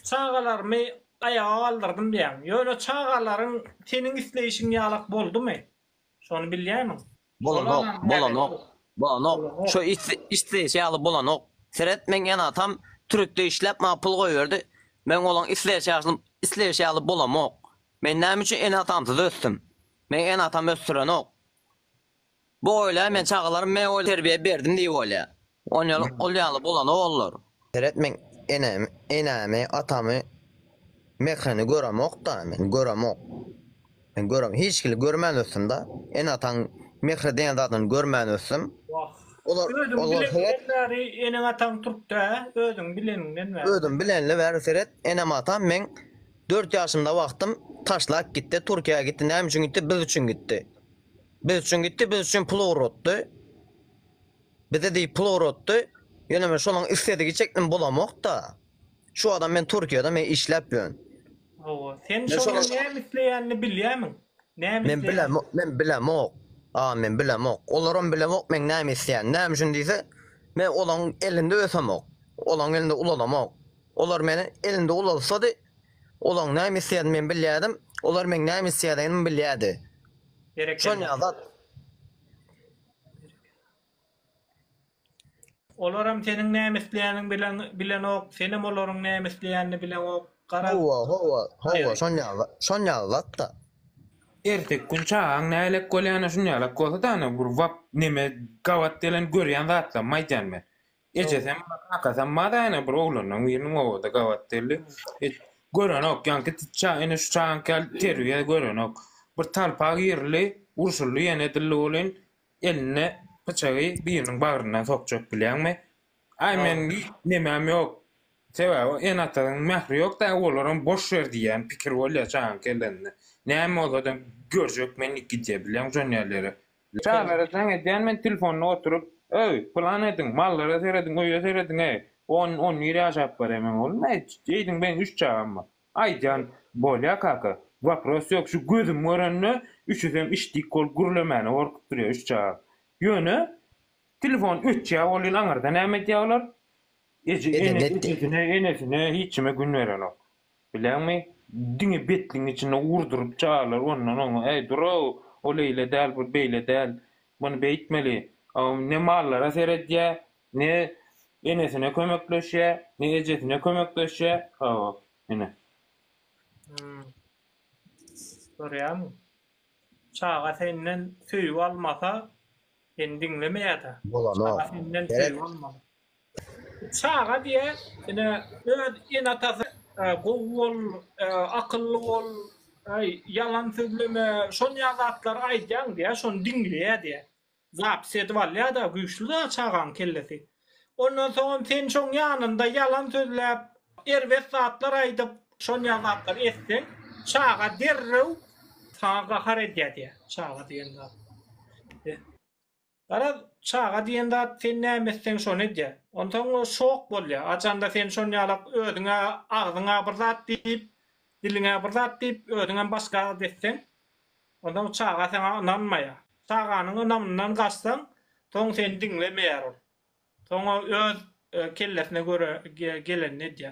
Çagalarymy aýaga galdyrdym diýýäň. Ýöne çagalaryň seniň isleýşiň ýalak boldumy? Şony bilýäýmiň? Bolanok, bolanok, bolanok. Şo isleýşi ýaly bolanok. Seret, meň ene-atam türkde işläp maňa pul goýberdi. Meň olaň isleýşi ýaly bolamok. Men näme üçin ene-atamsyz ösdüm? Meň ene-atam ösdürenok. Bu oýla men çagalarym men oýla terbiýe berdim diýip oýlaýa. Onýal ol ýaly bolany bollar. Seret men enemi enämi atamy Mekany göremokda men göremok. Men görem hiç kili görmän ösdümda ene ataň mehri diýen zadyny görmän ösdüm. Wah. Olar Özüň olar seret. bileninden bäri eneň ataň türkdä özüň bileninden bäri. Özüm bilenli bäri seret enem atam meň dört ýaşymda wagtym taşlap gitdi Türkiýä gitdi näme üçin gitdi biz üçin gitdi. Biz üçin gitdi, biz üçin pul ugratdy. Bize diýip pul ugratdy. Ýöne men şonuň isledigi çekdim bolamok-da. Şu adam men Türkiýede men işläp ýörün. Hawa, sen şonuň näme isleýänini bilýärmiň? Näme Men isleýän? bilemok, men bilemok. A, men bilemok. Olaram bilemok meň näme isleýänimi. Näme üçin diýse, men olaň elinde ösemok. Olaň elinde ulalamok. Olar meni elinde ulalsady, Olaň näme isleýänini men bilýärdim, olar meň näme isleýänimi bilýärdi. Şonýa zat. Olaram seniň näme isleýäniňi bilen bilenok, senem olaryň näme isleýänini bileňok. Gara. Hawa, hawa, hawa, şonýa zat, şonýa zat-da. Erteki gün çagaň nälelik bolýany şunýalak bolsa-da, ana bir wap neme gabat gelen görýän zatlarymy aýdýan men. Ejesem, kakasam mazaýyna bir oglanlaň biriniň obada gabat geldi. Hiç görenok, ýaňky ça ine şu çaňky al terbiýe görenok. Bir talpa girildi, urşuldy ýene dilli bolyn, elinde pyçagy biriniň bagryndan sokjak bilýäňmi? Aý men nemäm ýok. Sebäbi ene-atanyň mähri ýok da olaram boş ýer diýýän pikir bolýar çaňky ellende. Näme bolsada görjek men gidýä bilýäň şon ýerlere. Çaglara jaň edýän men telefonda oturyp, Öý, pylan ediň, mallara serediň, öýe serediň-eý, on, on bir ýaşap barýa men oglum, aýt, eýdiň beýdiň üç çagam bar. Aýdýan, Bolýa kaka, wapros ýok, şu gözüm görende üçüsem işdik bolup gürlemäne gorkup durýa üç çagam. Ýöne, telefon öçýä welin aňyrda näme edýä olar? Eje, ene, ejesine, enesine, hiç kime gün berenok. Bileňmi, diňe betligiň içinde urduryp çaýarlar, ondan oňa, Äý, dur-ow, ol eýle däl, bu beýle däl, muny beýtmeli. Aw, ne mallara seredýär, ne enesine kömekleşýär, ne ejesine kömekleşýär. Hawa, ine. Hum. Görýäňmi? Çaga senden söýgi almasa, seni diňlemeýär-dä. Bolanok. Çaga senden söýgi almaly. Çaga diýe ine öz ene atasy gowy bol akylly bol ýalan sözleme şonýa zatlar aýdýaň diýä şony diňleýä diýä zapis edip alýada güýçli dagy çagaň kellesi ondan soňam sen şoň ýanynda ýalan sözläp erbet zatlar aýdyp şonýa zatlar etseň çaga derrew saňa gahar edýä diýä çaga diýen zat. Garaz, çaga diýen zat sen näme etseň şony edýä. Onsoň o şok bolýa. Ajanda sen şon ýalak özüňe agzyňa bir zat diýip, diliňe bir zat diýip özüňem başga zat etseň, onsoň çaga saňa ynanmaýa. Çaganyň ynamyndan gaçsaň, soň seni diňlemeýär ol. Soň o öz kellesine göre gelenini edýä.